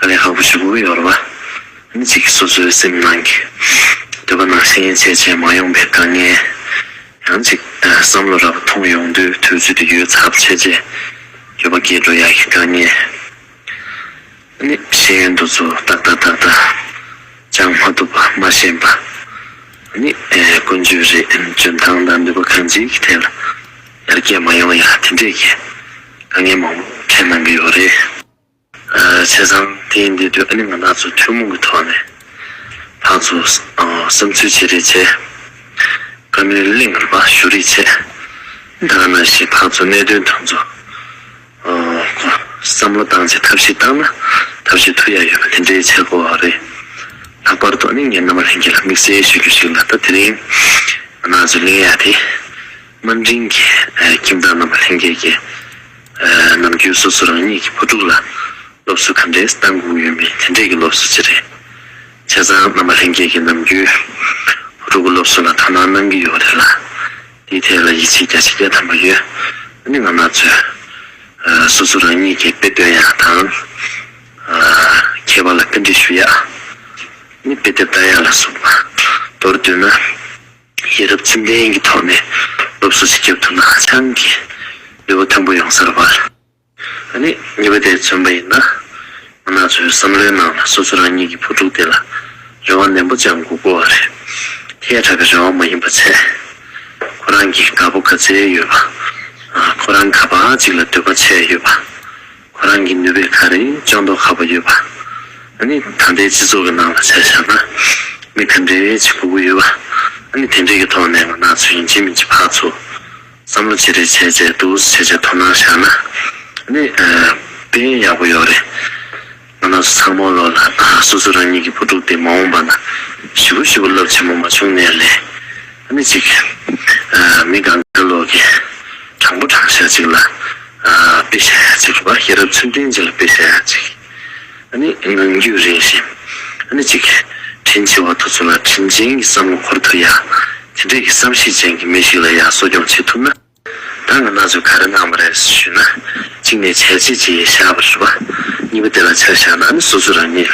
ཨ་ལས་ཧ་བུ་ཆུ་བུར་ཡོར་བ། མི་གཅིག་གིས་སོ་སོའི་སེམས་ནང་གི། འདོད་པ་ནང་བཞིན་ཡན་ཆད་བྱས་མ་ཡོང་པའི་དཀའ་ངལ། ཡང་གཅིག་བསམ་བློ་ར་བ་ཐོངས་ཡོང་དུས་དུས་ཚོད་དུ་ཡོད་ཚབས་ཆེ་རྗེས། འགྱོད་པ་བསྐྱེད་འགྲོ་ཡག་གི་དཀའ་ངལ། ནི། ཤེས་ཡོན་འདུ་ཚུགས་ཏག་ཏག་ཏག་ཏག། ཅང་མ་ཐུབ་པ་མ་ཤེས་པ། ནི། ཀུན་སྤྱོད་རེད་འཇོན་ཐང་དང་འདོད་པ་གང་ཅིའི་ཐད་ལ། ཡར་རྒྱས་མ་ཡོང་ཡང་དེ་འདྲས་ཀྱི། དཀའ་ངལ་མང་པོ་འཕྲད་གནང་གི་ཡོད་རེད། བྱས་ཙང་དེ་ཡིན་དེ་དུས་ཨ་ནེ་ང་ནག་ཚོ་ཐུན་མོང་གི་ཐོག་ནས་ལྷ་ཚོ་བསམ་ཚུལ་བྱེད་རེས་བྱས། བཀའ་མོལ་གླེང་རེས་མ་ཞུ་རེས་བྱས། ད་ག་ན་ཞིག་ལྷ་ཚོ་གནད་དོན་ཐོན་ཚོ་བསམ་བློ་བཏང་རྗེས་ཐབས་ཤེས་བཏང་ན་ཐབས་ཤེས་ཐུ་ཡ་ཡོད་པ་དེ་འདྲའི་བྱས་གོ་རེ། ལྷག་པར་དུ་ཨ་ནེ་ངས་མནའ་མ་ལྷན་རྒྱས་ལ་དམིགས་བསལ་ཞུ་རྒྱུ་ཞིག་ལ་ད་དེ་རིང་ང་ནག་ཚོས་གླེང་ཡ་དེ། དམའ་འབྲིང་གི་ཁྱིམ་བདག་རྣམས་ལྷན་རྒྱས་ཀྱིས་ནམ་རྒྱུན་སོ་སོ་རང་ཉིད་ཀྱི་བུ་ཕྲུག་ལ་སློབ་གསོ་ག་འདྲའི་གཏང་སྒུག་ཡོད་མེད་དེ་འདྲས་ཀྱི་སློབ་གསོ་བྱེད་རེད། བྱས་ཙང་རྣམ་པ་ལྷན་རྒྱས་ཀྱིས་ནམ་རྒྱུན་བུ་ཕྲུག་གི་སློབ་གསོ་ལ་དོ་སྣང་གནང་གི་ཡོད་རེད་ལ། དེའི་ཐད་ལ་ཡིད་ཆེས་རྒྱ་ཆེ་རྒྱ་ཐམ་པ་ཡོད་ཨ་ནི་ང་ནག་ཚོས་སོ་སོ་རང་ཉིད་ཀྱི་དཔེ་སྟོན་ཡ་དང་མཁས་པ་ལ་རྟེན་འབྲེལ་ཞུ་ཡ་ཨ་ནི་དཔེ་དེབ་བལྟ་ཡ་ལ་སོགས་པ་མདོར་བསྡུས་ན། ཤེས་རབ་ཚིམ་ལྡན་གྱི་ཐོག་ནས་སློབ་གསོ་ཞིག་བརྒྱབ་ཐུབ་ན་ཧ་ཅང་གི་ལེ་བོ་མཐོན་པོ་ཡོང་ས་རེད་པ། ད་ནི་ཉེས་པ་དེ་མཚོན་པ་ཡིན་ན་མི་ནག་ཚོའི་བསམ་བློའི་ནང་ལ་སོ་སོ་རང་ཉིད་ཀྱི་བུ་ཕྲུག་དེ་ལ་རེ་བ་ནན་པོ་བཅངས་དགོས་དགོས་བ་རེད། དེ་ཡ་གྲགས་ཀྱི་རེ་བ་མ་ཡིན་པ་ཚད། ཁོ་རང་གིས་དགའ་པོ་དགའ་ཚལ་ཡོད་པ། ཁོ་རང་ག་པ་ཅིག་ལ་འདོད་པ་ཆེ་ཡོད་པ། ཁོ་རང་གི་ནུས་པའི་ཁ་རེ་ཅང་འདོགས་ཁག་པོ་ཡོད་པ། ཨ་ནི་ད་ལྟའི་སྤྱི་ཚོགས་ཀྱི་ནང་ལ་ཆ་བཞག་ན། མི་དེ་འདྲའི་བྱེད་པོ་པོ་ཡོད་པ། ཨ་ནི་དེ་འདྲས་ཀྱི་ཐོག་ནས་ང་ནག་ཚོ་ཡིན་གཅིག་མིན་གཅིག་ཕག་ཚོ། བསམ་བློ་ཅི་རེ་བྱས་བྱས་འདུག་བྱས་བྱས་དོ་སྣང་བཞག་ན། ཨ་ནི་དཔེ་ཡག་པོ་ཡོད་རེད། ང་ནག་ཚོ་ཚང་མ་ལོ་ལ་སོ་སོ་རང་ཉིད་ཀྱི་བུ་ཕྲུག་དེ་མ་འོངས་པ་ན། ཞི་བོ་ཞི་བོ་རླབས་ཆེན་པོ་མ་བྱུང་ནས་ལས། ཨ་མེས་ཅིག། མི་གང་གཱའི་ལུགས་ཀྱི་དྲང་པོ་དྲང་བཤད་ཅིག་ལ་དཔེ་བྱ་ཡ་ཅིག་གིས་པ་ཤེས་རབ་ཚུལ་ལྡན་ཅིག་ལ་དཔེ་བྱ་ཡ་ཅིག་གིས་ཨ་མེས་ནང་རྒྱུད་རིང་ཞིང་ཨ་མེས་ཅིག་དྲིན་ཆེ་བ་དུ་ཚོད་ལ་དྲིན་ཅན་གྱི་བསམ་བློ་འཁོར་ཐུབ་ཡ་དེ་འདྲས་ཀྱི་བསམ་ཤེས་ཅན་གྱི་མི་ཞིག་ལ་ཡ་གསོ་སྐྱོང་བྱེད་ཐུབ་ན། བདག་གི་སྣ་ཟུག་ག་རེ་གནང་བ་རེད་ཞུས་ན། གཅིག་ནས་བྱས་རྗེས་ཀྱིས་བཞག་པར་ཞུ་བ། གཉིས་པ་དེ་ལ་ཆ་བཞག་ན་ནི་སོ་སོ་རང་ཉིད།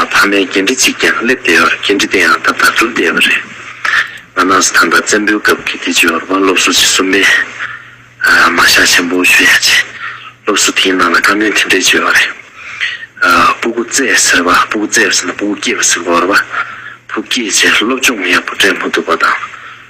ཕ་མའི་འགན་འཁྲི་གཅིག་ཀྱང་སླེབས་བསྡད་བར་འགན་འཁྲི་དེ་ཡང་ད་ལྟར་སྒྲུབ་བསྡད་པ་རེད། ང་ནགས་སུ་ཐང་དང་བཙན་པོའི་སྐབས་ཀྱི་དེ་ཇོ་བོ་སློབ་གསོ་ཆེད་གསུམ་པའི། མ་ཤག་ཆེན་པོ་ཞུ་ཡག་ཆེ། སློབ་གསོ་དེའི་ནང་ལ་བཀའ་མོལ་དེ་འདྲས་བྱོས་བ་རེད། སྤུ་གུ་བཙས་ཟེར་བ་སྤུ་གུ་བཙས་པ་ཟེར་ན་སྤུ་གུ་སྐྱེས་པ་ཟེར་དགོས་རེད་བ། བུ་སྐྱེས་རྗེས་སློབ་སྦྱོང་ཡག་པོ་སྤྲད་མ་ཐུབ་པ་དང།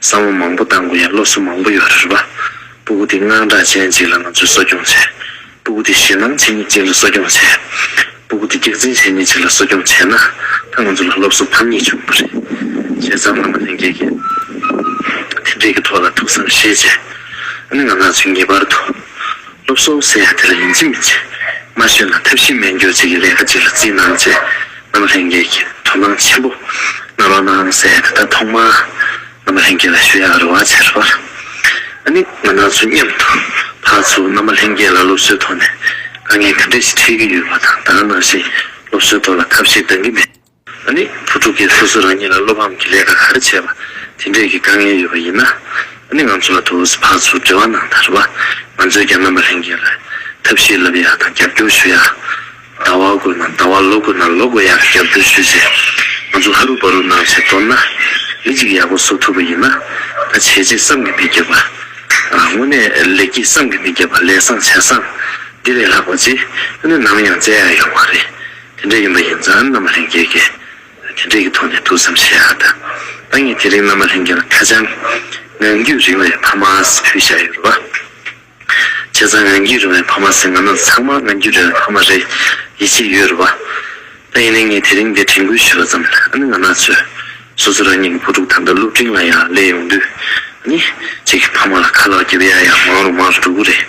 གསང་བ་མང་པོ་བཏང་དགོས་ཡ་སློབ་གསོ་མང་པོ་ཡོད་རེད་པ། སྤུ་གུ་དེ་དངངས་སྐྲག་ཅན་གཅིག་ལ་ང་ཚོས་གསོ་སྐྱོང་བྱས། སྤུ་གུ་དེ་ཞེད་སྣང་བྱེད་ཉིད་གཅིག་ལ་གསོ་སྐྱོང་བྱས། སྤུ་གུ་དེ་སྒེག་འཛིན་བྱེད་ཉིད་གཅིག་ལ་གསོ་སྐྱོང་བྱས་ན་ད་ང་ཚོ་ལ་སློབ་གསོ་ཕམ་ཉེས་བྱུང་གི་རེད། བྱས་ཙང་བླ་མ་ལྷན་རྒྱས་ཀྱིས་དེ་འབྲེལ་གྱི་ཐོག་ལ་ཐུགས་བསམ་བཞེས་རྗེས་ཨ་ནི་ང་ལགས་ཚོས་ངེས་པར་དུ་སློབ་གསོ་ཟེར་ཡ་དེ་ལ་ཡིན་གཅིག་མིན་གཅིག་མ་ཤོད་ན་ཐབས་ཤེས་སྨན་སྐྱོར་བྱེད་ཀྱི་ལས་ཀ་ཅིག་ལ་བརྩིས་གནང་བྱས། རྣམ་ལྷན་རྒྱས་ཀྱི་དོན་སྣང་ཆེན་པོ་རྣམ་པར་སྣང་གསལ་དེ་ལྟར་ཐོག་མར་རྣམ་ལྷན་རྒྱས་ལ་ཞུ་ཡག་རེ་བ་ཆེར་བར་ནི་ང་ནག་ཚོ་མཉམ་དུ་ཕར་ཚུར་རྣམ་པ་ལྷན་རྒྱས་ལ་སློབ་གསོའི་ཐོག་ནས་དཀའ་ངལ་ག་འདྲས་ཤིག་འཕྲད་ཀྱི་ཡོད་པ་དང་ད་ནང་བཞིན་སློབ་གསོའི་ཐོག་ལ་ཐབས་ཤེས་འདང་གི་མེད་པ་ནི་བུ་ཕྲུག་གིས་སོ་སོ་རང་ཉིད་ལ་བློ་ཕམ་གྱི་ལས་ཀ་ག་རེ་བྱས་པ་དེ་འདྲས་ཀྱི་དཀའ་ངལ་ཡོད་པ་ཡིན་ན་ནི་ང་ཚོ་ལ་དུ་བོ་སི་ཕར་ཚུར་འབྲེལ་བ་གནང་དང་རེ་བ་ང་ཚོས་ཀྱང་རྣམ་པ་ལྷན་རྒྱས་ལ་ཐབས་ཤེས་ལབ་ཡག་དང་རྒྱབ་སྐྱོར་ཞུ་ཡག། ཟླ་བ་དགོས་ན་ཟླ་བ་ལོ་དགོས་ན་ལོ་དགོས་ཡང་རྒྱབ་སྐྱོར་ཞུ་རྗེས། ང་ཚོ་ཧ་རུ་བ་རུ་ནང་བྱེད་མདོར་ན། མི་གཅིག་ཡག་པོ་བཟོ་ཐུབ་པ་ཡིན་ན། ད་བྱས་རྗེས་བསམ་གྱི་མི་རྒྱབ་པ། དངོས་གནས་ལེགས་སྐྱེས་བསམ་གྱི་མི་རྒྱབ་པ་ལས་བཟང་བྱས་བཟང། འདི་ལས་ལྷག་པ་རྗེས་དངོས་གནས་ནམ་ཡང་མཛད་ཡ་ཡོད་མ་རེད། དེ་འདྲ་ཡིན་པ་ཡིན་ཙང་མནའ་མ་ལྷན་རྒྱས་ཀས་དེ་འདྲས་ཀྱི་ཐོག་ནས་ཐུགས་བསམ་བཞེས་ཨ་ད། ད་ངས་དེ་རིང་མནའ་མ་ལྷན་རྒྱས་ལ་ཁ་བྱང། ངང་རྒྱུད་རིང་བའི་ཕ་མ་ཨ་ཟི་ཕུལ་བཞག་ཡོད་རེད་བ། བྱས་ཙང་རང་རྒྱུད་རུང་བའི་ཕ་མ་ཟེར་ང་ནི་ཚང་མ་ང་རྒྱུད་རུང་བའི་ཕ་མ་རེད་ཡིད་ཆེས་ཡོད་རུ་བ། ད་ཡིན་ནའི་ངས་དེ་རིང་འདིར་དྲན་སྐུལ་ཞུས་པ་ཙམ་ཨ་ནི་ང་ནག་ཚོས་སོ་སོ་རང་ཉིད་ཀྱི་བུ་ཕྲུག་དང་དང་སློབ་འབྲིང་ལ་ཡང་སླེབས་ཡོང་དུས་ནི་ཅིག་གིས་ཕ་མ་ལ་ཁ་ལག་བརྒྱབ་ཡ་ཡང་མང་རུ་མང་རུ་འགྲོ་གི་རེད།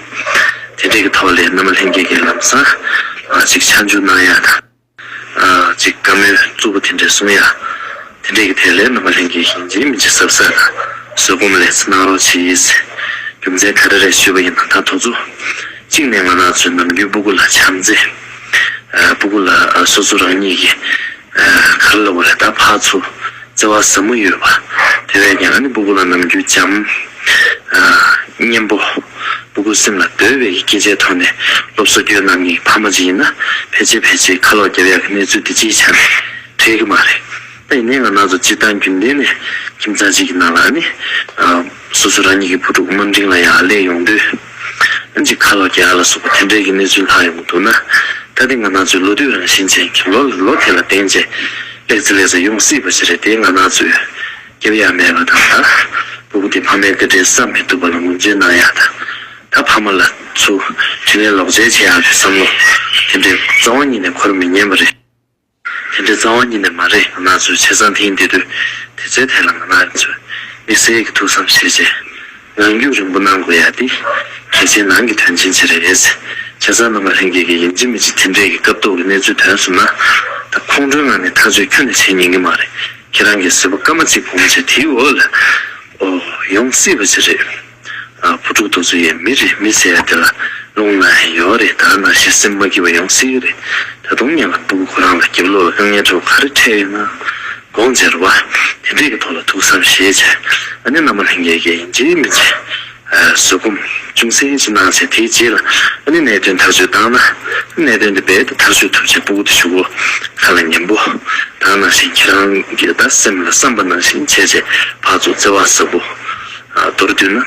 དེ་འདྲས་ཀྱི་ཐོག་ལས་སྣ་མ་ལྷན་རྒྱས་ཀྱི་ལམ་སང་ལ་ཅིག་ཕྱག་འཇུག་གནང་ཡ་དང། ཅིག་བཀའ་མོལ་གཙོ་བོ་དེ་འདྲས་གསུང་ཡ། དེ་འདྲས་ཀྱི་ཐད་ལས་རྣམ་པ་ལྷན་རྒྱས་ཤིང་རྗེས་མི་འཇིགས་ཟབ་ས་ལ་བཟོད་སྒོམ་ལས་སུ་གནང་རོགས་བྱེད་ཡིས། རྒྱུ་མཚན་ག་རེ་རེད་ཤོད་པ་ཡིན་ན་ད་དོགས་ཚུལ། གཅིག་ནས་ང་ནག་ཚོས་ནམ་རྒྱུན་སྤུ་གུ་ལ་ཆམ་རྩེ། སྤུ་གུ་ལ་སོ་སོ་རང་ཉིད་ཀྱི་གར་ལ་བ་རེ་ད་ཕག་ཚུ་རྩེ་བ་ཟབ་མོ་ཡོད་པ། དེ་བས་ཀྱང་ཨ་ནི་སྤུ་གུ་ལ་ནམ་རྒྱུན་ལྕམ། གཉེན་པོ། སྤུ་གུ་སེམས་ལ་བརྡོལ་བའི་སྐད་ཆའི་ཐོག་ནས་སློབ་གསོ་རྒྱུད་རྣམ་གཉིས་ཕ་མ་གཅིག་ཡིན་ན་ཕལ་ཆེར་ཕལ་ཆེར་ཁ་ལོག་རྒྱབ་ཡ་གི་གནས་ཚུལ་འདི་གཅིག་ཆར་འཕྲད་གི་མ་རེད། ད་ཡིན་ནའི་ང་ནག་ཚོ་སྤྱིར་བཏང་རྒྱུན་ལྡན་ནས་ཁྱིམ་ཚང་གཅིག་གི་ནང་ལ་ནི། སོ་སོ་རང་ཉིད་ཀྱི་བུ་ཕྲུག་དམའ་འབྲིང་ལ་ཡང་སླེབས་ཡོང་དུས། ཨང་ཅིག་ཁ་ལོག་རྒྱག་ཡ་ལ་སོགས་པ་དེ་འདྲའི་གི་གནས་ཚུལ་ལྷག་ཡོང་གི་འདུག་ན། ད་དེ་ང་ནག་ཚོའི་ལོ་དུས་རང་བཞིན་ཅན་གྱི་ལོ་ལ་ལོ་དེ་ལ་བརྟེན་རྗེས། ལེགས་ཚེ་ལེགས་ཚེ་ཡོང་སྲིད་པ་ཞིག་རེད་དེ་ང་ནག་ཚོས། སྐྱེ་བ་ཡང་མེད་པ་དང། བུ་གུ་དེ་ཕ་མའི་སྐུ་དྲན་བསམ་མི་ཐུབ་པ་ལ་ངོམ་ཆུང་གནང་ཡག་དང། ད་ཕ་མ་ལ་ཚུ་དྲིན་ལན་ལོག་འཇལ་བྱེད་ཡག་རེད་བསམ་ལོ། དེ་འདྲའི་རྩ་བ་ཉིད་ནས་ཁོར་མི་ཉན་པ་རེད། དེ་འདྲའི་རྩ་བ་ཉིད་ནས་མ་རེད་ང་ནག་ཚོས་བྱས་ཙང་དེང་དེ་དུས་དེ་ཚོའི་ཐད་ལ་ང་ནག་ཚོས་དམིགས་བསལ་གྱི་ཐུགས་བསམ་བཞེས་བྱས། རང་རྒྱུད་རིང་པོ་གནང་དགོས་ཡ་དེ། གལ་ཆེན་ནང་གི་དོན་ཆེན་བྱེད་རེ་རེད། ཆ་ཚང་རྣམ་པ་ལྷན་རྒྱས་ཀྱི་ཡིན་གཅིག་མི་གཅིག་དེ་འདྲས་ཀྱི་སྐབས་ཐོག་གི་གནས་ཚུལ་དོན་གསུམ་ན། ད་ཁོང་ཁྲོའི་ངང་ནས་ཐག་གཅོད་ཁྱོད་ནས་བྱེད་ཉན་གི་མ་རེད། ཁྱེད་རང་གིས་ཟེར་བ་སྐར་མ་གཅིག་བུ་མོ་ཆེ་དེའི་འོག་ལ། ཨོ། ཡོང་སྲིད་པ་ཅི་རེད། ཨ། བུ་ཕྲུག་རྡོ་བཟོ་ཡའི་མི་རེད་མི་ཟེར་ཡ་དེ་ལ། རླུང་ནག་ཧེ་ཡོད་རེད་ད་ནང་བཞིན་སེམས་མ་སྐྱིད་པ་ཡོང་སྲིད་གི་རེད། ད་དུང་ངེད་ལ་སྤུ་གུ་ཁོ་རང་ལ་འགེབ་ལོག་ལ་དཀའ་ངལ་འཕྲད་པ་ག་རེ་འཕྲད་ཡོད་ན། དགོངས་འཇལ་བ། དེ་འདྲས་ཀྱི་ཐོག་ལ་ཐུགས་བསམ་ཞེས་བྱ། ཨ་ནེ་ནམ་མ་ལྷན་རྒྱལ་གྱིས་འཇིགས་མི་བྱེད། བཟོད་སྒོམ། ཅུང་ཟད་ཅིག་གནང་ཚེ་དེའི་རྗེས་ལ་ཨ་ནེ་གནད་དོན་ཐག་གཅོད་བཏང་ན། གནད་དོན་འདི་རྦད་དེ་ཐག་གཅོད་ཐུབ་ཅེས་སྤོ་སྒུག་ཏུ་བཞུགས་གོ། ཁ་ལ་ཉན་པོ། གང་ནང་བཞིན་ཁྱེད་རང་གི་བདག་སེམས་ལ་བསམ་པ་ནང་བཞིན་བྱས་རྗེས་ཕར་ཚུར་བརྩེ་བ་ཟབ་པོ། མདོར་བསྡུས་ན།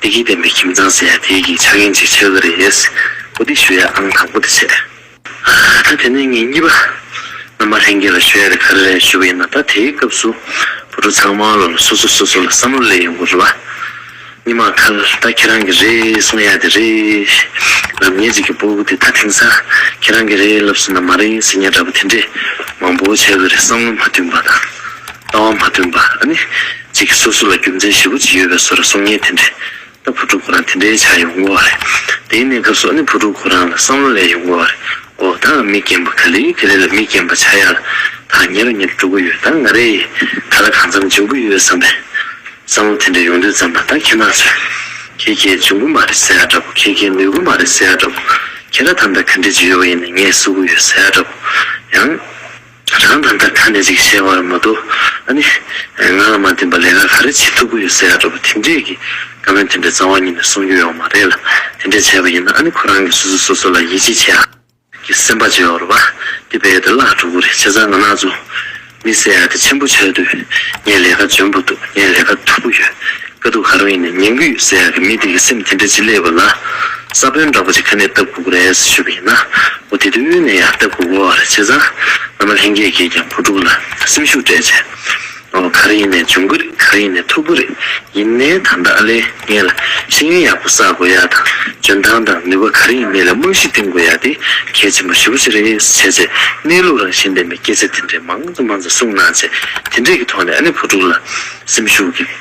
ད་ལྟའི་ལྡན་པའི་ཁྱིམ་ཚང་ཟེར་ཡ་དེའི་གི་ཆ་རྐྱེན་ཅིག་ཆགས་ཀྱི་རེད། གོ་སྒྲིག་ཞུ་ཡ་ཨང་དང་པོ་དེ་བྱས། ད་དེ་ནས་ངེད་གཉིས་པ་རྣམ་པ་ལྷན་རྒྱས་ལ་ཞོལ་ཡར་ག་རེ་རེ་ཞུ་གི་ཡིན་ན་ད་དེའི་སྐབས་སུ་བུ་ཕྲུག་ཚང་མ་ལ་སོ་སོ་སོ་སོ་ལ་བསམ་བློ་ལེགས་ཡོང་གི་རེད་བ། གཉིས་མ་ཁ་ད་ཁྱེད་རང་གི་རེད་གསུང་ཡ་དེ་རེད། རབ་གཉེར་གཅིག་གི་སྤོ་བོ་དེ་ད་དེང་སང་ཁྱེད་རང་གི་རེད་ལབ་སོང་ན་མ་རེད་ཟེར་ཉེན་འདྲ་པོ་དེ་འདྲས་མང་པོ་བྱས་གི་རེད་བསམ་བློ་མ་མཐུན་པ་དང་ལྟ་བ་མ་མཐུན་པ་ཨ་ནི་གཅིག་གི་སོ་སོ་ལ་རྒྱུ་མཚན་ཞེ་པོ་ཅིག་ཡོད་པས་སོ་ར་གསུང་ཉེན་དེ་འདྲས་ད་བུ་ཕྲུག་ཁོ་རང་དེ་འདྲའི་ཆགས་ཡོང་དགོས་བ་རེད། དེའི་གནས་སྐབས་སུ་ནི་བུ་ཕྲུག་ཁོ་རང་ལ་བསམ་བློ་ལས་ཡོང་དགོས་བ་རེད་གོ། དྭངས་མི་རྒན་པོ་ག་ལེ་ག་ལེ་ལ་མི་རྒན་པོ་ཆགས་ཡག་ལ། དྭངས་ཉེ་ར་ཉེ་ར་འགྲོ་གི་ཡོད་ད་ང་རེ་ཡིས་ད་ལ་གང་འཚམས་འབྱུང་གི་ཡོད་བསམ་པས། བསམ་བློ་དེ་འདྲ་ཡོང་དུས་ཙམ་ལ་ད་ཁྱེད་ནགས་ཚོས། ཁྱེད་ཁྱེད་འབྱུང་གི་མ་རེད་ཟེར་ཡག་འདྲ་པོ་ཁྱེད་ཁྱེད་ནུས་གི་མ་རེད་ཟེར་ཡག་འདྲ་པོ། ཁྱེད་ར་ཐམ་ད་ག་འདྲས་ཀྱི་ཡོད་བ་ཡིན་ནས་ངས་བསུ་གི་ཡོད་ཟེར་ཡག་འདྲ་པོ། ཡང། རང་དང་འདྲ་ཁ་ནས་ཅིག་བཤད་བར་མ་དོ། ཨ་ནི། ང་ལ་མ་བསྟེན་པར་ལས་ཀ་ག་རེ་བྱེད་ཐུབ་ཀི་ཡོད་ཟེར་ཡག་འགྲོ་བ་དེ་འདྲས་ཀི་བཀའ་བོན་དེ་འདྲས་རྩ་བ་ཉིད་ནས་གསུང་རྒྱུ་ཡོད་མ་རེད་ལ་དེ་འདྲས་བྱས་པ་ཡིན་ན་ཨ་ནི་ཁོ་རང་གིས་སོ་སོས་སོ་སོ་ལ་ཡིད་ཆེས་བྱེད་ཡག་གི་སེམས་པ་འཇོག་རོགས་པ་དེ་བས་དེ་བླག་འགྲོ་གི་རེད་བྱས་ཙང་ང་ནག་ཚོ་མི་སེར་ཡ་དེ་ཆེན་པོ་བྱས་དུས་ངས་ལས་ཀ་འཇོན་པོ་འདུག་ངས་ལས་ཀ་ཐུབ་པོ་ཡོད། དཀའ་སྡུག་ག་རང་ཡིན་ནས་ངན་གུས་ཟེར་ཡག་གི་མི་དེ་གི་སེམས་དེ་འདྲ་ཅི་སླེབས་པ་ལ། ས་བོན་འདྲ་པོ་ཅིག་ཁ་ནས་བཏབ་གུག་རེས་ཞུས་པ་ཡིན་ན་འོ་དེ་དུས་ནས་ཡང་བཏབ་གུག་འོ་རེ་བྱས་ཙང་ཨ་མ་ལྷན་རྒྱས་ཀྱིས་ཀྱང་བུ་ཕྲུག་ལ་སེམས་ཤུགས་སྤྲད་ཆེ། འོ་ག་རེ་ཡིན་ནས་འབྱུང་གི་རེད་ག་རེ་ཡིན་ནས་ཐུབ་གི་རེད་ཡིན་ནའི་ད་ལྟ་ཨ་ལས་ངེས་ལ་ཤེས་ཡོན་ཡག་པོ་བསགས་དགོས་ཡག་དང་འཇོན་ཐང་དང་ནུས་པ་ག་རེ་ཡིན་མི་ལ་རྨང་གཞི་བཏིང་དགོས་ཡག་དེ་གལ་ཆེན་པོ་ཞེ་པོ་ཞིག་རེད་ཟེར་བྱས་རྗེས་གནས་ལུགས་རང་བཞིན་ལྡན་པའི་སྐད་ཆ་དེ་འདྲའི་མང་ཙམ་མང་ཙམ་གསུངས་གནང་རྗེས་དེ་འདྲས་ཀྱི་ཐོག་ནས་ཨ་ནེ་བུ་ཕྲུག་ལ་སེམས་ཤུགས་ཀྱི།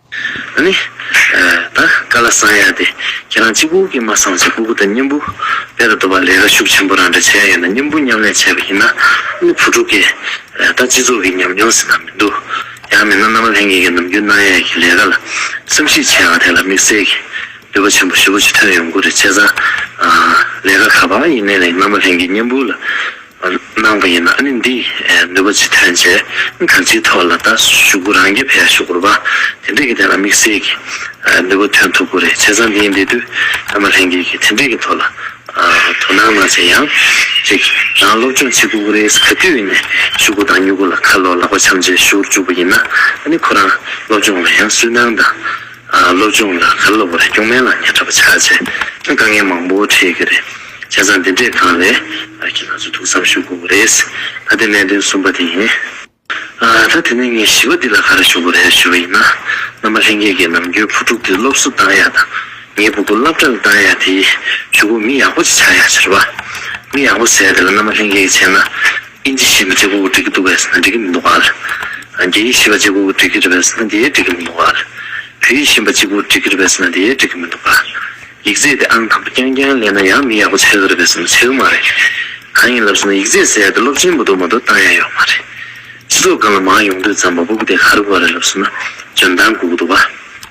ཨ་ནི། ད་བཀའ་ལ་གསང་ཡ་དེ་ཁྱེད་རང་གཅིག་པུ་གིས་མ་གསང་ཞིག་སྤུ་གུ་དང་སྙིང་པོ་དཔལ་དུ་འདོད་པ་ལས་ར་ཤུགས་ཆེན་པོ་རང་འདྲ་བྱས་ཡོད་ན་སྙིང་པོ་མཉམ་ལས་བྱས་པ་ཡིན་ན་ཨ་ནི་བུ་ཕྲུག་གིས་ད་སྤྱི་ཚོགས་ཀྱི་ཉམས་མྱོང་ཟིན་ན་མི་འདུག་ཡང་མིན་ན་མནའ་མ་ལྷན་རྒྱས་ཀྱི་ནམ་རྒྱུན་གནང་ཡས་ཀྱི་ལས་ཀ་ལ་བསམ་གཞིག་བྱས་ཡོང་བ་དེ་ལ་དམིགས་བསལ་གྱི་འདོད་པ་ཆེན་པོ་ཞེ་པོ་ཅིག་ཐོན་ཡོང་གི་རེད་བྱས་ཙང་ལས་ཀ་ག་པར་ཡིན་ནའི་རིང་མནའ་མ་ལྷན་རྒྱས་སྙིང་པོ་ལ། གནང་བ་ཡིན་ན་ནི་འདི་ནུས་པ་ཅི་ཐོན་བྱས་ག་ཅིའི་ཐོག་ལ་ད་ཞུགས་རྒྱུ་རང་རྒྱལ་བས་ཞུགས་དགོས་པ་དེ་འདྲས་ཀྱི་ཐད་ལ་དམིགས་བསལ་གྱི་ནུས་པ་ཐོན་ཐུབ་དགོས་རེད་བྱས་ཙང་འདིའི་འབྲེལ་དུས་ཨ་མ་ལྷན་རྒྱས་ཀྱིས་དེ་འདྲས་ཀྱི་ཐོག་ལ་དོ་སྣང་གནང་བྱས་ཡང་རིགས་རང་སློབ་སྦྱོང་བྱེད་དགོས་ཀྱི་རེད་ག་དུས་ནས་ཞུགས་དགོས་དང་མྱུ་གུ་ལ་ཁ་ལོ་ལག་པ་འཆམ་རྗེས་ཞུགས་རྒྱུར་འཇུག་པ་ཡིན་ན་ནི་ཁོ་རང་སློབ་སྦྱོང་ལ་ཡང་སུན་སྣང་དང། སློབ་སྦྱོང་ལ་ཁ་ལོ་བ་རེ་སྐྱོང་མེད་ལ་ཉེ་འཁྲབ་པ་ཆགས་རྗེས་ཁྱོད་དཀའ་ངལ་མང་པོ་འཕྲད་གི་རེད་བྱས་ཙང་འདི་འདྲས་གང་ལས་ཨ་ཁྱི་ང་ཚོ་ཐུགས་བསམ་ཞུ་དགོས་གི་རེད། ད་དེ་གནད་དོན་གསུམ་པ་དེ་ཡིན། ད་དེ་ནས་ངས་བཞི་བ་འདི་ལ་ག་རེ་ཞུ་གི་རེད་ཞུ་བ་ཡིན་ན་མནའ་མ་ལྷན་རྒྱས་ཀྱི་ནམ་རྒྱུན་བུ་ཕྲུག་དེ་སློབ་གསོ་གཏང་ཡ་དང་ངའི་བུ་གོ་སླབ་གྲ་ལ་གཏང་ཡ་དེ་ཞུ་གོ་མི་ཡག་པོ་ཅིག་ཆགས་ཡ་ཕྱིར་བ། མི་ཡག་པོ་ཟེར་དེ་ལ་མནའ་མ་ལྷན་རྒྱས་ཀྱི་བྱས་ན། ཨིན་ཇི་ཞེས་པ་ཇེ་གོ་བོ་འགྲིག་གི་འདུག་བས་ན་འགྲིག་གི་མི་འདུག་གཱལ། རྒྱ་ཡིག་ཞེས་པ་ཇེ་གོ་བོ་འགྲིག་གི་རེད་བས་ན་དེའི་འགྲིག་གི་མི་འདུག་གཱལ། བོད་ཡིག་ཞེས་པ་གཅིག་པོ་འགྲིག་གི་རེད་བས་ན་དེའི་འགྲིག་གི་མི་འདུག་གཱལ། ཡིག་རྩལ་དེ་ཨང་དང་པོ་རྐྱང་རྐྱང་གླེང་ན་ཡང་མི་ཡག་པོ་ཆགས་གི་རེད་བས་ན་ཆགས་གི་མ་རེད། གང་ཡིན་ལབ་ཟེར་ན་ཡིག་རྩལ་ཟེར་ཡག་དེ་སློབ་ཆེན་པོ་འདུག་མ་འདུག་བཏང་ཡག་ཡོད་མ་རེད། སྤྱི་ཚོགས་སྒང་ལ་མང་ཡོང་དུས་ཙམ་པ་པོ་དེ་ག་རེ་གོ་བ་རེད་ལབ་ཟེར་ན་འཇོན་ཐང་དགོས་ཀྱི་འདུག་གཱལ།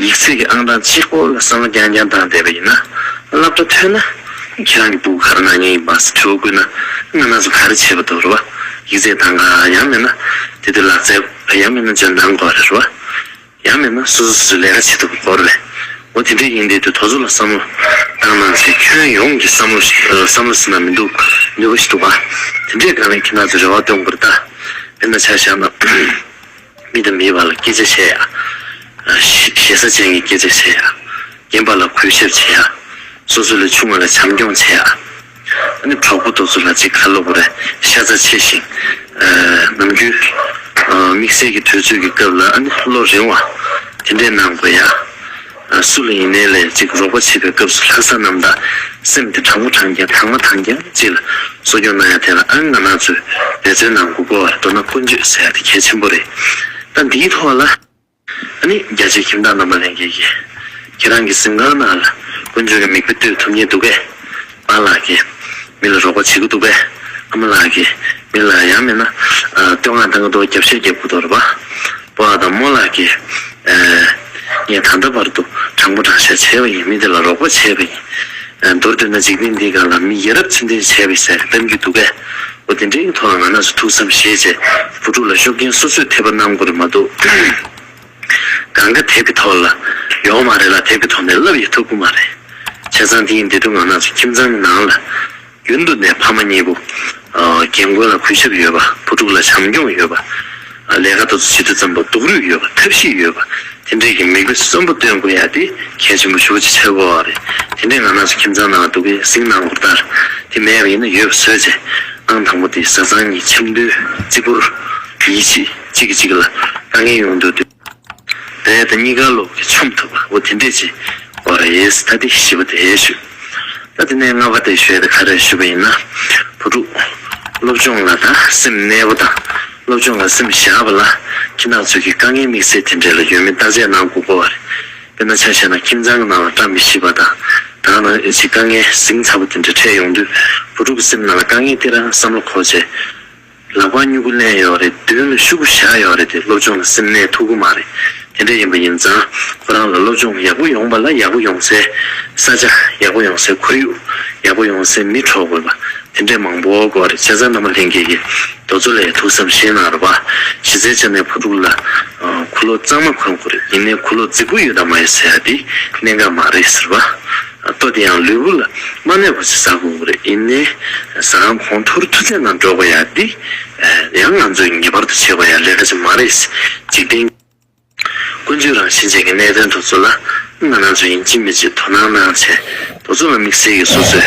ཡིག་ཚད་ཀྱི་ཨང་གྲངས་གཅིག་པོ་ལ་བསམ་བློ་རྐྱང་རྐྱང་བཏང་བསྡད་པ་ཡིན་ན། བསླབ་གྲྭ་ཐོན་ན་ཁྱེད་རང་གི་སྦུག་གར་ནང་ཉན་ཡིག་སྦག་ས་ཁྲི་བོ་བསྐུར་ན་སྔ་ན་སུ་ག་རེ་བྱས་པ་འདུག་རེད་བ། ཡིག་ཚད་དང་ག་ཡང་མེད་ན་དེ་དུས་ལག་རྩལ་ག་ཡང་མེད་ན་འཇོན་ཐང་གོ་རེད་བ། ཡང་མེད་ན་སོ་སོ་སོ་སོའི་ལས་ཀ་བྱེད་ཐུབ་པ་གོ་རེད་བ། འོ་དེ་འདྲས་ཡིན་དེ་དུས་དོ་ཚོ་ལ་བསམ་བློ་བཏང་གནང་ཚེ་ཁྱོན་ཡོངས་ཀྱི་བསམ་བློ་ཞིག་བསམ་བློ་ཟེར་ན་མི་འདུག་ནུས་པ་ཞིག་འདུག་བ། དེ་འདྲས་གང་ལས་ཁྱེད་རང་ཚོས་རེ་བ་བཏོན་དགོས་རེད་ད། དེ་འདྲ་ཆགས་བཞག་ན། མི་དང་མིའི་བར་ལ་སྐྱེད་ཚལ་བྱས། ཞེ་ས་ཅན་གྱི་སྐྱེད་ཚལ་བྱས། རྒན་པ་ལ་གུས་ཞབས་བྱས། སོ་སོ་ལས་ཆུང་བ་ལ་བྱམས་སྐྱོང་བྱས། གྲོགས་པོ་རྡོ་བཟོ་ལགས་ཀྱི་ཁ་ལོ་བོ་རེ་ཤ་རྩ་ཆེ་ཞིང། ནམ་རྒྱུན་དམིགས་བསལ་གྱི་དུས་ཚོད་ཀྱི་སྐབས་ལ་བློ་རིང་བ་དེ་འདྲའི་གནང་དགོས་ཡ། སུ་ལ་ཡིན་ནའི་ལན་གཅིག་རོགས་པ་བྱེད་པའི་སྐབས་སུ་ལྷ་ས་རྣམས་དང་སེམས་དེ་དྲང་མོ་དྲང་རྒྱན་དྲང་མ་དྲང་རྒྱན་གཅིག་ལ་གསོ་སྐྱོང་གནང་ཡ་དེ་ལ་ཨང་ང་ནག་ཚོས་འབད་བརྩོན་གནང་དགོས་པོ་བར་དོ་ན་ཀུན་སྤྱོད་ཟེར་ཡ་དེ་གལ་ཆེན་པོ་རེད་ད་འདིའི་ཐོག་ལ། ཨ་ནི་རྒྱ་ཆེའི་ཁྱིམ་བདག་རྣམས་པ་ལན་གེ་གེ། ཁྱེད་རང་གི་གཟིམ་ཁང་ནང་ལ་ཀུན་སྤྱོད་ཀྱི་མིག་དཔེ་གཏོད་ཐུབ་ཉེ་འདུག་གས། པཱ་ལགས་ཀྱིས་མི་ལ་རོགས་པ་བྱེད་ཀྱི་འདུག་པས་ཨ་མ་ལགས་ཀྱིས་མི་ལ་ཡང་མེད་ན་བསྟོད་བསྔགས་བཏང་གི་འདུག་རྒྱབ་ཤར་རྒྱབ་ཁུག་ཐོག་རེད་པཱ་པཱ་དང་མོ་ལགས་ཀྱིས། ངས་ད་ལྟ་བར་དུ་དྲང་པོ་དྲང་བཞག་བྱས་པ་ཡིན་མི་དེ་ལ་རོགས་པ་བྱས་པ་ཡིན། མདོར་བསྡུས་ན་འཇིག་རྟེན་འདིའི་སྒང་ལ་མི་ཡ་རབས་ཚུལ་ལྡན་བྱས་པའི་ཟེར་བསྟན་གྱི་འདུག་པས་འོ་དེ་འདྲའི་ཐོག་ལ་ང་ནགས་སུ་ཐུག་སམ་ཞེས་རྗེས་བུ་ཕྲུག་ལ་ཤོབ་མཁན་སོ་སོས་འཐད་པ་གནང་དགོས་རེད་མ་འདུག། གང་ག་དེབ་ཀྱི་ཐོག་ལ་ཡོང་མ་རེད་ལ་དེབ་ཀྱི་ཐོག་ནས་ལབ་ཡི་ཐུབ་ཀྱི་མ་རེད། བྱས་ཙང་དེ་ཡི་འདི་སྡུག་བསྔལ་སྣ་ཚོགས་ཁྱིམ་ཚང་གི་ནང་ལ་རྒྱུན་དུ་ནས་ཕ་མ་གཉིས་པོ་རྒན་རྒོན་ལ་གུས་ཞབས་ཡོད་པ་བུ་ཕྲུག་ལ་བྱམས་སྐྱོང་ཡོད་པ། ལས་ཀ་ད་ཚོད་ཇི་དུས་ཙམ་པོ་སྡུག་རུས་ཡོད་པ་ཐབས་ཤེས་ཡོད་པ་དེ་འདྲས་ཀྱི་མིག་དཔེ་གསོན་པོ་སྟོན་དགོས་ཡ་དེ་གལ་ཆེན་པོ་ཞུ་བ་ཅིག་ཆགས་དགོས་བ་རེད་དེ་འདྲས་ང་སྣ་ཚོགས་ཁྱིམ་ཚང་ནང་ལ་སྡུག་གི་གཟིགས་གནང་དགོས་པ་ལྟར་དེ་མེད་པ་ཡིན་ན་ཡོད་པ་བཟོས་ཚེ་གནང་དང་པོ་དེ་བཟའ་ཚང་གཉིས་ཆབ་མདོའི་རྩིས་འཁོར་ཡིད་ཆེས། གཅིག་གིས་གཅིག་ལ་དཀའ་ངལ་ཡོང་འདུག་དུས་དེ་དང་གཉིས་ཀ་སློབ་གི་ཆོམ་ཐུབ་པ་བོ་དེ་འདྲས་ཅིག་བ་རེད་ད་དེ་བཞི་བ་དེ་ཞུ་ད་དེ་ནས་ལྔ་བ་དེ་ཞུས་ད་ག་རེ་ཞུ་བ་ཡིན་ན་བུ་ཕྲུག་སློབ་སྦྱོང་ལ་ད་སེམས་གནས་པོ་དང་སློབ་སྦྱོང་ལ་སེམས་བཞག་པ་ལ་ཁྱི་ནག་ཚོས་གི་དཀའ་ངལ་དམིགས་བསལ་དེ་འདྲས་ལ་ཡོད་མེད་བརྟག་དཔྱད་གནང་དགོས་པོ་བ་རེད་དཔེར་ན་ཆ་བཤད་ན་ཁྱིམ་ཚང་གི་ནང་ལ་བཀྲ་མི་ཤིས་པ་དང་དང་ནང་ཨེ་ཙི་དཀའ་ངལ་ཟིང་ཚ་པོ་དེ་འདྲས་འཕྲད་ཡོང་དུས་བུ་ཕྲུག་གི་སེམས་ནང་ལ་དཀའ་ངལ་སྟེ་རང་བསམ་བློ་འཁོར་བྱེད། ལག་པ་སྨྱུ་གུ་བསྣན་ཡོད་རེད་མདུན་ལ་ཤུག་གུ་བཞག་ཡོད་རེད་དེ་སློབ་སྦྱོང་ལ་སེམས་གནས་ཐུག་གི་མ་རེད་དེ་འདྲ་ཡིན་པ་ཡིན་ཙང་ཁོ་རང་ལ་སློབ་སྦྱོང་ཡག་པོ་ཡོང་པ་ལ་ཡག་པོ་ཡོང་སའི་ས་ཆ་ཡག་པོ་ཡོང་སའི་ཁོར་ཡུག་ཡག་པོ་ཡོང་སའི་མི་འཕྲོག་དགོས་པ་དེ་འདྲས་མང་པོ་དགོས་རེད་བྱས་ཙང་མནའ་མ་ལྷན་རྒྱས་ཀྱི་རྡོ་བཙོ་ལས་ཐུག་བསམ་ཤེས་གནང་རོགས་གཞི་རྩའི་ཆ་ནས་བུ་ཕྲུག་ལ་ཁུ་ལོ་གཙང་མ་གོན་དགོས་རེད་ཡིན་ནའི་ཁུ་ལོ་རྫིག་པོ་ཡོད་དམ་མ་ཡོད་ཟེར་ཡ་དེ་གནད་འགག་མ་རེད་ཟེར་བ། ལྟོ་དེ་ཡང་ལུས་པོ་ལ་མ་གནས་པར་ཟ་དགོས་པ་རེད་ཡིན་ནའི་ཟ་ཁང་གོང་མཐོར་མཐུ་རྩལ་ནང་འགྲོ་དགོས་ཡ་འདི་ཡང་ང་ཚོས་ངེས་པར་དུ་བྱེད་དགོས་ཡ་ལས་ཀ་ཅིག་མ་རེད་འཇིག་རྟེན་ཀུན་འཇུག་རང་བཞིན་ཅན་གྱི་གནད་དོན་དོ་ཚོ་ལ་ང་རང་ཚོ་ཡིན་གཅིག་མི་གཅིག་དོ་སྣང་གནང་བྱས་དོ་ཚོ་ལ་དམིགས་བསལ་གྱི་སོ་སོས་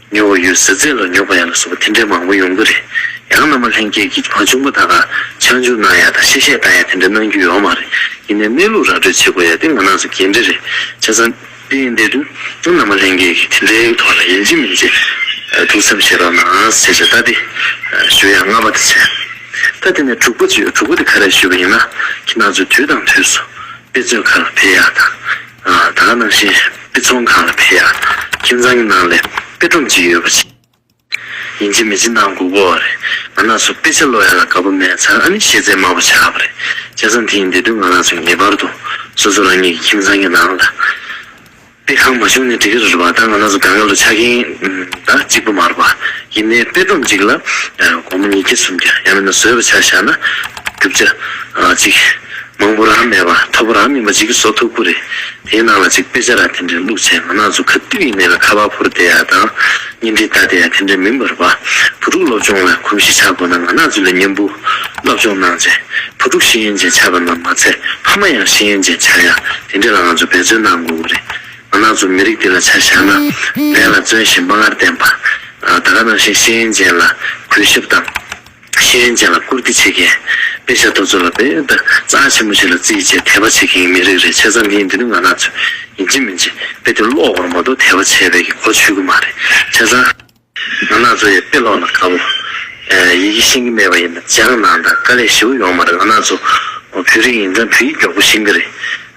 ཉོ་བ་ཡོད་ཟེར་ཚད་ལ་ཉོག་པ་ཡ་ལ་སོགས་པ་དེ་འདྲའི་མང་པོ་ཡོང་གི་རེད། ཡང་ནང་མ་ལྷན་རྒྱས་ཀྱི་བ་ཆུང་པོ་དག་ག་ཆག་འཇུག་གནང་ཡ་དང་ཤེས་བཤད་བཏང་ཡ་དེ་འདྲ་གནང་རྒྱུ་ཡོག་མ་རེད། ཡིན་ནའི་གནས་ལུགས་ར་སྤྲོད་བྱེད་དགོས་ཡ་དེ་ང་ནང་སོ་འགན་འདྲེ་རེད། ཆ་ཚང། དེ་ཡིན་དེ་དུས་ཡང་ནང་མ་ལྷན་རྒྱས་ཀྱི་དེ་འདྲའི་ཐོག་ལ་ཡིན་གཅིག་མིན་གཅིག་ཐུགས་འཚབ་བྱེད་རོགས་གནང་ཟེར་བྱས་ད་དེ་ཞུ་ཡ་ལྔ་པ་དེ་བྱས། ད་དེ་ནས་དྲུག་པ་ཅིག་ཡོད་དྲུག་པ་དེ་ག་རེ་ཞུ་བ་ཡིན་ན་ཁྱེད་རྣམས་ཚོས་དུས་དང་དུས་སུ་དཔེ་མཛོད་ཁང་ལ་ཕེབས་ཡ་དང། ད་ལྟ་ནང་བཞིན་དཔེ་ཚོང་ཁང་ལ་ཕེབས་ཡ། ཁྱིམ་ཚང་གི་ནང་ལས་དཔེ་སྒྲོམ་གཅིག་ཡོད་པ་བྱས། ཡིན་གཅིག་མི་གཅིག་ནང་སྒུག་པོ་བ་རེད། ང་ལགས་སུ་དཔེ་ཆ་ཀློག་ཡ་ལ་དགའ་པོ་མེད་ཚར་ཨ་ནི་ཤེས་ཚད་དམའ་པོ་ཆགས་པ་རེད། སྐྱ་སང་དེ་ཡིན་དེ་དུས་ང་ལགས་སུ་ངེས་པར་དུ་སོ་སོ་རང་ཉིད་ཀྱི་ཁྱིམ་ཚང་གི་ནང་ལ་དཔེ་ཁང་མ་བྱུང་ནས་འགྲིག་གི་རེད་བ་ད་ང་ལགས་སུ་དགའ་ངལ་དུ་ཆགས་མཁན་ད་གཅིག་པོ་མ་རེད་བ། ཡིན་ནའི་དཔེ་སྒྲོམ་གཅིག་ལ་སྒོར་མོ་ཉིས་བརྒྱ་སུམ་བརྒྱ་ཡང་མེད་ན་བཟོས་པ་ཆགས་བཞག་ན་རྒྱུ་བྱ་གཅིག། མང་པོ་རག་མེད་པ་ཐོ་པོ་རག་མིན་པ་ཅིག་གི་སོ་ཐོ་ཁུ་རེ་དེའི་ནང་ལ་ཅིག་དཔེ་ཆ་ར་དེ་འདྲའི་བླུག་བྱས་མ་ནག་ཆུ་ཁ་ཏིལ་ཡི་མེ་ལ་ཁ་བ་ཕུར་དེ་ཡ་དང་གཉེན་སྒྲིག་ལྟ་དེ་ཡ་དེ་འདྲའི་མིན་པར་བ་བུ་ཕྲུག་སློབ་སྦྱོང་ལ་གོམས་གཤིས་ཆགས་དགོས་ན་མ་ནག་ཆུ་ལ་གཉེན་པོ་སློབ་སྦྱོང་གནང་བྱས་བུ་ཕྲུག་ཤེས་ཡོན་ཅན་ཆགས་པ་རྣམས་མ་ཚད་ཕ་མ་ཡང་ཤེས་ཡོན་ཅན་ཆགས་ཡ་དེ་འདྲའི་ལ་ང་ཚོ་འབད་བརྩོན་གནང་དགོས་དགོས་རེད་མ་ནག་ཆུ་མི་རིགས་འདི་ལ་ཆ་བཞག་ན་ལས་ལ་བརྩོན་ཞིང་དཔའ་ངར་ལྡན་པ་ད་ག་ནང་བཞིན་ཤེས་ཡོན་ཅན་ལ་གུས་ཞབས་དང། ཤེས་ཡོན་ཅན་ལ་བཀུར་བསྟི་བྱེད་མཁན། དཔེ་ཆ་རྡོ་བཟོ་ལ་དཔེ་ཡོད། རྩྭ་ཆེན་པོ་ཆེ་ལ་རྩིས་བྱེད་དད་པ་བྱེད་མཁན་གྱི་མི་རིགས་རེད་ཆེ་ཙམ་ཡིན་འདི་ནི་ང་ནག་ཚོས་ཡིན་གཅིག་མིན་གཅིག་དཔེ་དེ་ཀློག་དགོས་ན་མ་གཏོགས་དད་པ་བྱས་བས་ཀྱི་གོ་ཆོད་གི་མ་རེད་ཆེ་ཙམ། ང་ནག་ཚོ་ཡི་དཔེ་ཀློག་ན་དགའ་བོ། ཡི་གེ་ཤེས་གི་མེད་པ་ཡིན་ན་ལྗང་ནག་དང་དཀའ་ལས་ཞེ་བོ་ཡོང་མ་རེད་ང་ནག་ཚོ་བོད་རིགས་ཡིན་ཙང་བོད་ཡིག་མགྱོགས་པོ་ཤེས་གི་རེད།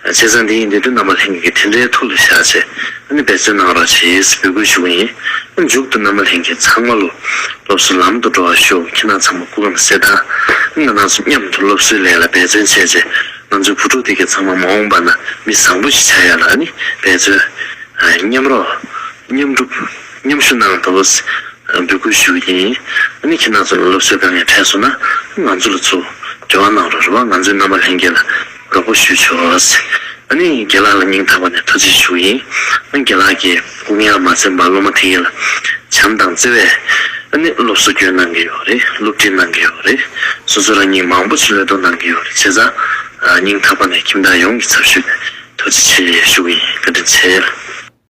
བྱས་ཙང་འདི་ཡིན་འདི་འདུག་རྣམ་པ་ལྷན་སྐྱེས་ཀྱི་དེ་འདྲའི་ཐུགས་ལ་བཞག་ཅེས་ཨ་ནི་འབད་བརྩོན་གནང་རོགས་ཞེས་འབོད་སྐུལ་ཞུ་གི་ཡིན། མཇུག་ཏུ་རྣམ་པ་ལྷན་སྐྱེས་ཚང་མ་བློ་སློབ་གསོ་ལམ་དུ་འགྲོ་བར་ཤོག་ཁྱེད་རྣམས་ཚང་མ་སྐུ་ཁམས་གསལ་ཐང། ང་རྣམས་སུ་མཉམ་དུ་སློབ་གསོའི་ལས་ལ་འབད་བརྩོན་བྱས་རྗེས་ང་ཚོའི་བུ་ཕྲུག་དེ་གས་ཚང་མ་མ་འོངས་པ་ན་མི་བཟང་པོ་ཞིག་བྱ་ཡ་ལ་ཨ་ནི་འབད་བརྩོན། མཉམ་རོགས། མཉམ་སྒྲུབ། མཉམ་ཞུ་གནང་དགོས་པོ་ཞེས་འབོད་སྐུལ་ཞུ་གི་ཡིན། ཨ་ནི་ཁྱེད་རྣམས་ཚོ་ལ་སློབ་གསོའི་དཀའ་ངལ་འཕྲད་སོང་ན་ང་ཚོ་ལ་ཚུར་འབྲེལ་བ་གནང་རོགས་རེ་བ་ང་ཚོའི་རྣམ་པ་ལྷན་སྐྱེས་ལ། དགའ་པོ་ཞུ་ཆོག། ད་ནི་རྒན་ལགས་ལ་སྙིང་ཐག་པ་ནས་ཐུགས་རྗེ་ཞུ་ཡིན། རྒན་ལགས་ཀྱིས་དབུ་མའི་ལམ་མ་འཛིན་པར་སློབ་མ་དེ་གཉིས་ལ་བྱམས་དང་བརྩེ་བས་སློབ་གསོ་སྐྱོན་གནང་གི་ཡོད་རེད་སློབ་ཁྲིད་གནང་གི་ཡོད་རེད། སོ་སོ་རང་ཉིད་མང་པོ་ཕྱི་ལོད་གཏོང་གནང་གི་ཡོད་རེད་བྱས་ཙང། སྙིང་ཐག་པ་ནས་ཁྱིམ་བདག་ཡོངས་ཀྱི་ཚབ་ཞུས་ནས་ཐུགས་རྗེ་ཆེ་ཞུ་གི་ཡིན་བཀའ་དྲིན་ཆེ།